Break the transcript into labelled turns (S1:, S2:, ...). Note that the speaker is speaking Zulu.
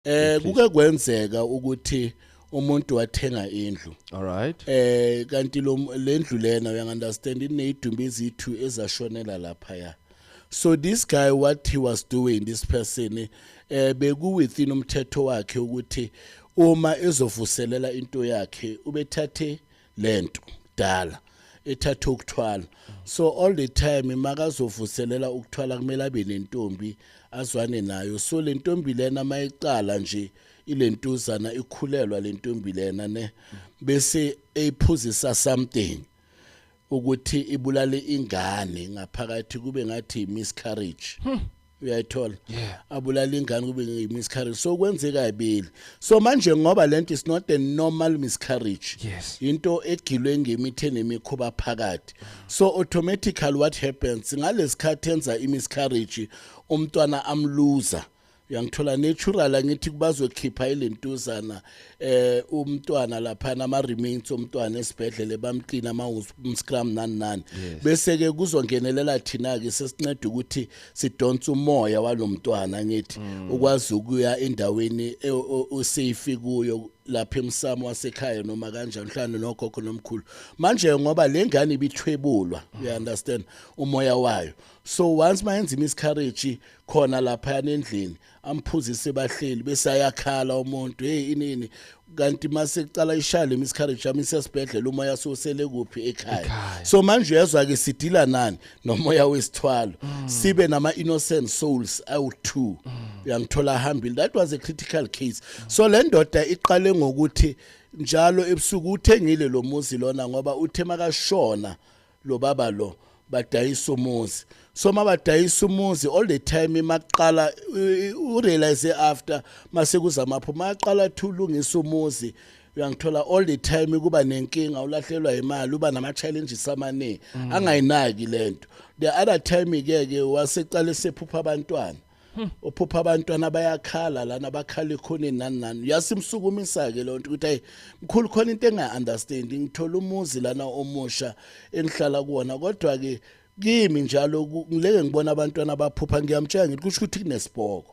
S1: eh kuke kwenzeka
S2: ukuthi umuntu wathenga indlu alright eh
S1: kanti lo
S2: lendlu lena uya understand inezidumbu ezithu ezashonela lapha ya so this guy what he was doing this person eh beku within umthetho wakhe ukuthi uma ezovuselela into yakhe ubethathe lento dala ethatha ukuthwala so all the time makazovuselela ukuthwala kumele abe nentombi azwane nayo so le ntombi lena mayiqala nje ilentuzana ikhulelwa le ntombi lena ne bese eyiphuzisa something ukuthi ibulale ingane ngaphakathi kube ngathi miscarriage hmm. uyayithola yeah. abulala ingane kube ngimiscarriage so kwenzeka ibili so manje ngoba lento is not a normal miscarriage yes. into
S1: egilwe
S2: ngemithe nemikhuba phakathi so automatically what happens ngalesikhathi enza imiscarriage umntwana amluza uyangithola natural angithi kubazokhipha ilentuzana eh umntwana lapha nama remains omntwana esibhedlele bamqina ama scrum nani nani bese ke kuzongenelela thina ke sesinceda ukuthi sidonsa umoya walomntwana ngithi mm. ukwazi ukuya endaweni e, usafe kuyo lapha emsamo wasekhaya noma kanjani mhlawumbe nogogo nomkhulu manje ngoba le ngane ibithwebulwa you mm. understand umoya wayo so once mayenza imiscarriage khona lapha endlini amphuzise bahleli bese ayakhala umuntu hey inini kanti mase kucala ishale miscarriage yami sesibhedlela uma yasosele kuphi ekhaya so manje uyezwa ke sidila nani nomoya wesithwalo mm. sibe nama innocent souls awu two mm. uyangithola hambile that was a critical case mm. so le ndoda iqale ngokuthi njalo ebusuku uthengile lo muzi lona ngoba uthe makashona mm. lo baba lo badayisa umuzi so mabadayisa umuzi all the time maqala urealize after mase kuzamapho maqala thulungisa umuzi uyangithola all the time kuba nenkinga ulahlelwa imali uba nama challenges amaningi mm. angayinaki lento the other time ke ke waseqala sephupha abantwana Hmm. uphupha abantwana bayakhala lana bakhala ekhoneni nani nani uyasimsukumisa-ke loo nto ukuthi hayi mkhulu khona into engayi-understandi ngithola umuzi lana omusha engihlala kuwona kodwa-ke kimi njalo ngileke ngibona abantwana abaphupha ngiyamtshela ngithi kusho ukuthi kunesibhoko